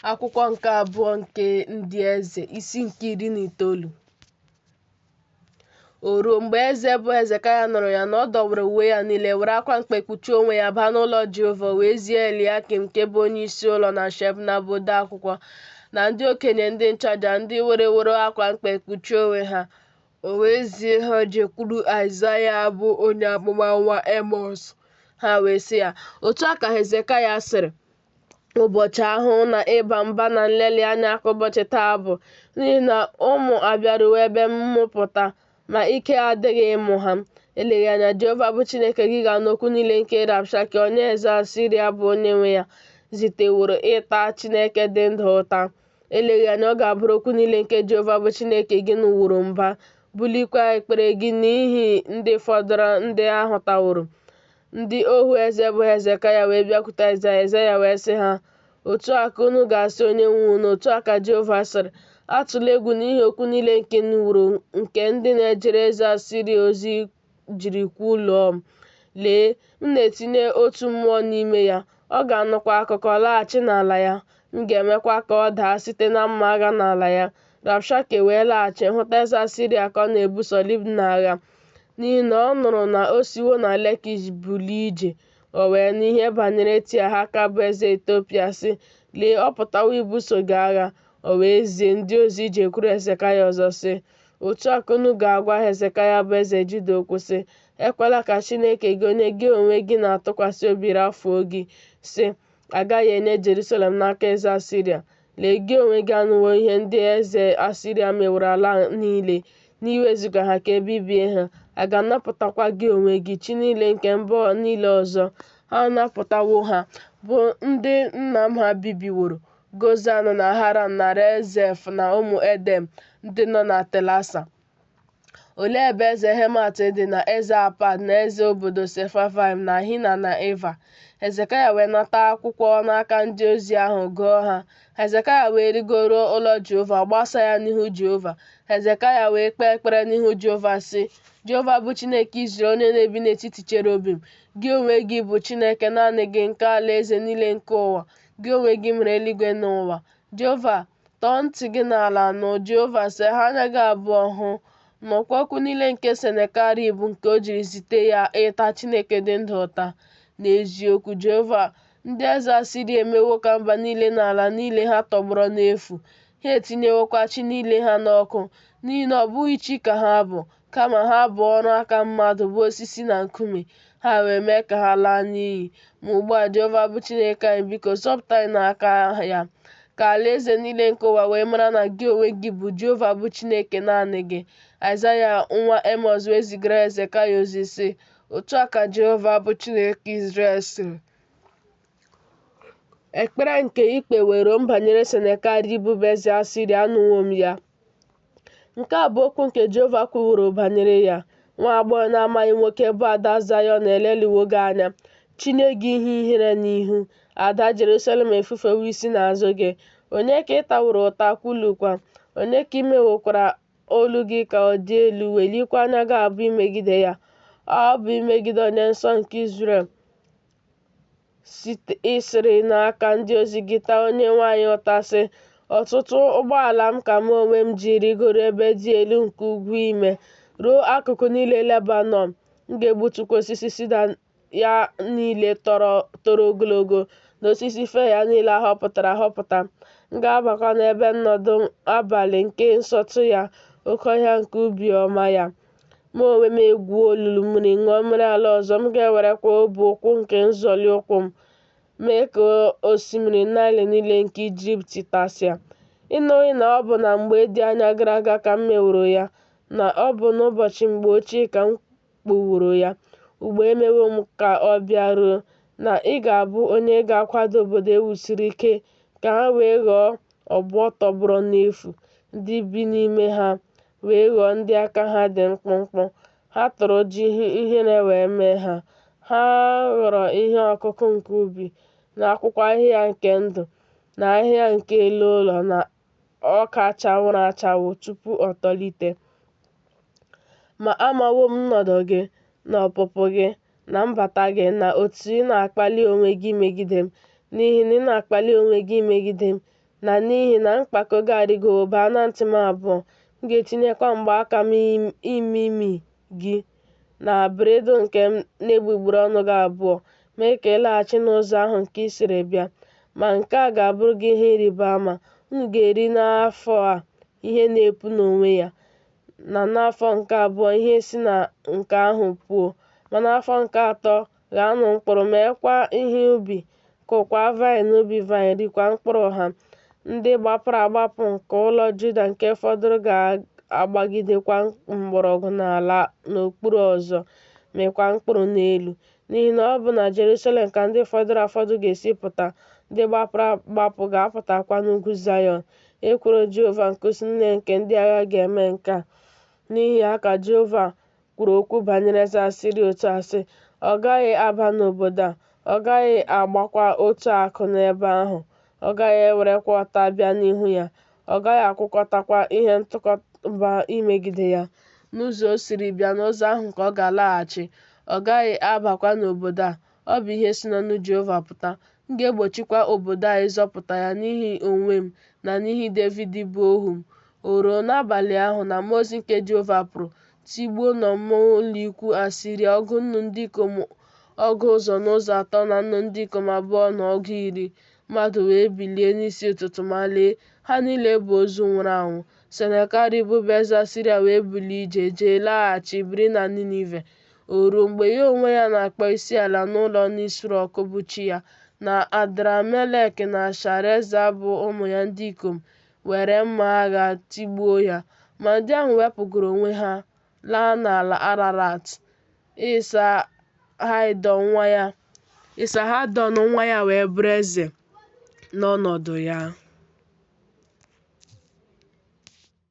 akwụkwọ nke abụọ nke ndị eze isi nke iri na itoolu o ruo mgbe eze bụ hezekaya nụrụ ya na ọ dọwara uwe ya niile were akwa mkpe kpuchie onwe ya baa n'ụlọ jehova wee zie eliakim nke bụ onye isi ụlọ na shebna bụ ode akwụkwọ na ndị okenye ndị nchụaja ndị wereworo akwa mkpe kpuchie onwe ha O wee zie ha jekwuru Aịzaya bụ onye amụma nwa Emọs, ha wee sị ya, Otu a ka Hezekaya sịrị, Ụbọchị ahụhụ na ịba mba na nlelị anya ka ụbọchị taa bụ, n'ihi na ụmụ abịaruwo ebe mmụpụta, ma ike adịghị ịmụ ha. Eleghị anya Jehova bụ Chineke gị ga-anụ okwu niile nke Rabshake onye eze Asiria bụ onye nwe ya ziteworo ịta Chineke dị ndụ ụta. Eleghị anya ọ ga-abụrụ okwu niile nke Jehova bụ Chineke gị nụworo mba, bulikwa ekpere gị n'ihi ndị fọdụrụ ndị a hụtaworo. Ndị ohu eze bụ Hezekaya wee bịakwute Aịzaya, Aịzaya wee sị ha, Otu a ka unu ga-asị onye nwe unu, otu a ka Jehova sịrị, atụla egwu n'ihi okwu niile nke ị nụworo nke ndị na-ejere eze Asiria ozi jiri kwuluo m. Lee, m na-etinye otu mmụọ n'ime ya, ọ ga-anụkwa akụkọ laghachi n'ala ya, m ga-emekwa ka ọ daa site na mma agha n'ala ya. Rabshake wee laghachi hụta eze Asiria ka ọ na-ebuso Libna agha, n'ihi na ọ nụrụ na o siwo na Lekish bulie ije. O wee nụ ihe banyere Tiahaka bụ eze Etiopia sị, Lee, ọ pụtawo ibuso gị agha. O wee zie ndị ozi jekwuru Hezekaya ọzọ sị, Otu a ka unu ga-agwa Hezekaya bụ eze Juda okwu sị, Ekwela ka Chineke gị onye gị onwe gị na-atụkwasị obi rafuo gị, sị, A gaghị enye Jerusalem n'aka eze Asiria. Lee, gị onwe gị anụwo ihe ndị eze Asiria meworo ala niile, n'iwezuga ha ka e bibie ha. A ga-anapụtakwa gị onwe gị chi niile nke mba niile ọzọ. Ha napụtawo ha, bụ ndị nna m ha bibiworo, Gozan na Haran na Rezef na ụmụ Edem ndị nọ na Telasa. Olee ebe eze Hemat dị na eze Apad na eze obodo Sefavaim na Hina na Iva? Hezekaya wee nata akwụkwọ n'aka ndị ozi ahụ gụọ ha. Hezekaya wee rigoro ụlọ Jehova gbasaa ya n'ihu Jehova. Hezekaya wee kpee ekpere n'ihu Jehova sị, Jehova bụ Chineke Izrel onye na-ebi n'etiti cherubim, gị onwe gị bụ Chineke naanị gị nke alaeze niile nke ụwa. gị onwe gị mere eluigwe na ụwa. Jehova, tọọ ntị gị n'ala nụ, Jehova, saghee anya gị abụọ hụ. Nụkwa okwu niile nke Senakerib nke o jiri zite ya ịta Chineke dị ndụ ụta. N'eziokwu, Jehova, ndị eze Asiria emewo ka mba niile na ala niile ha tọgbọrọ n'efu. Ha etinyewokwa chi niile ha n'ọkụ, n'ihi na ọ bụghị chi ka ha bụ, kama ha bụ ọrụ aka mmadụ bụ osisi na nkume, ha wee mee ka ha laa n'iyi. Ma ugbu a, Jehova bụ Chineke anyị, biko zọpụta anyị n'aka ya. Ka alaeze niile nke ụwa wee mara na gị onwe gị bụ Jehova bụ Chineke naanị gị. Aịzaya nwa Emọz wee zigara Hezekaya ozi sị, Otu a ka Jehova bụ Chineke Izrel sịrị, Ekpere nke i kpeworo m banyere Senakerib bụ eze Asiria anụwo m ya. Nke a bụ okwu nke Jehova kwuworo banyere ya, Nwa agbọghọ na-amaghị nwoke bụ ada Zayọn eleliwo gị anya, chinye gị ihe ihere n'ihu, ada Jerusalem efufewo isi n'azụ gị. Onye ka ị taworo ụta, kwulukwa? Onye ka i mewokwara olu gị ka ọ dị elu, welikwa anya gị abụ imegide ya? Ọ bụ imegide Onye Nsọ nke Izrel. i siri n'aka ndị ozi gị taa Onyenwe anyị ụta sị ọtụtụ ụgbọala m ka mụ onwe m ji rịgoro ebe dị elu nke ugwu ime ruo akụkụ niile lebanon m ga-egbutukwa osisi sida ya niile toro ogologo na osisi fir ya niile a họpụtara ahọpụta m ga-abakwa n'ebe nnọdụ abalị nke nsọtụ ya oke ọhịa nke ubi ọma ya Mụ onwe m egwuo olulu mmiri, ṅụọ mmiri ala ọzọ, m ga-ewerekwa ọbụ ụkwụ nke nzọli ụkwụ m mee ka osimiri Naịl niile nke Ijipt tasịa. Ị nụghị na ọ bụ na mgbe dị anya gara aga ka m meworo ya, na ọ bụ n'ụbọchị mgbe ochie ka m kpụworo ya? Ugbu a emewo m ka ọ bịaruo na ị ga-abụ onye ga-akwada obodo e wusiri ike ka ha wee ghọọ obo tọgbọrọ n'efu, ndị bi n'ime ha wee ghọọ ndị aka ha dị mkpụmkpụ, ha tụrụ ụjọ ihe ihere wee mee ha. Ha ghọrọ ihe ọkụkụ nke ubi, na akwụkwọ ahịhịa nke ndụ, na ahịhịa nke elu ụlọ, na ọka chawụrụ achawụ tupu o tolite. Ma amawo m nnọdụ gị, na ọpụpụ gị, na mbata gị, na otu ị na-akpali onwe gị imegide m, n'ihi na ị na-akpali onwe gị imegide m na n'ihi na mkpako gị arịgowo baa na ntị m abụọ, m ga-etinyekwa mgbaaka m n'imi gị na bridle nke m n'egbugbere ọnụ gị abụọ, mee ka ị laghachi n'ụzọ ahụ nke i siri bịa. Ma nke a ga-abụrụ gị ihe ịrịba ama, unu ga-eri n'afọ a ihe na-epu n'onwe ya, na n'afọ nke abụọ ihe si na nke ahụ puo, ma n'afọ nke atọ ghaanụ mkpụrụ, meekwa ihe ubi, kụkwaa vaịn n'ubi vaịn, rikwa mkpụrụ ha. Ndị gbapụrụ agbapụ nke ụlọ Juda nke fọdụrụ ga-agbagidekwa mgbọrọgwụ n'ala n'okpuru ọzọ, mịkwa mkpụrụ n'elu. N'ihi na ọ bụ na Jerusalem ka ndị fọdụrụ afọdụ ga-esi pụta, ndị gbapụrụ agbapụ ga-apụtakwa n'ugwu Zayọn. Ekworo Jehova nke usu niile nke ndị agha ga-eme nke a. N'ihi ya ka Jehova kwuru okwu banyere eze asiria otu a sị ọ gaghị aba n'obodo a ọ gaghị agbakwa otu akụ n'ebe ahụ ọ gaghị ewerekwa ọta bịa n'ihu ya ọ gaghị akwụkọtakwa ihe ntụkọba imegide ya n'ụzọ o siri bịa n'ụzọ ahụ ka ọ ga-alaghachi ọ gaghị abakwa n'obodo a Ọ bụ ihe si n'ọnụ Jehova pụta, m ga-egbochikwa obodo a ịzọpụta ya n'ihi onwe m na n'ihi Devid bụ ohu m. O ruo n'abalị ahụ na mmụọ ozi nke Jehova pụrụ, tigbuo n'ọmụma ụlọikwuu Asiria ọgụ nnu ndị ikom ọgụ ụzọ na ụzọ atọ na nnu ndị ikom abụọ na ọgụ iri. Mmadụ wee bilie n'isi ụtụtụ ma lee, ha niile bụ ozu nwụrụ anwụ. Senakerib bụ eze Asiria wee bulie ije jee laghachi biri na Ninive. O ruo mgbe ya onwe ya na-akpọ isi ala n'ụlọ Nisrọk bụ chi ya, na Adramelek na Shareza bụ ụmụ ya ndị ikom were mma agha tigbuo ya. Ma ndị ahụ wepụgoro onwe ha laa n'ala Ararat. Ịsahadọn nwa ya wee bụrụ eze n'ọnọdụ ya.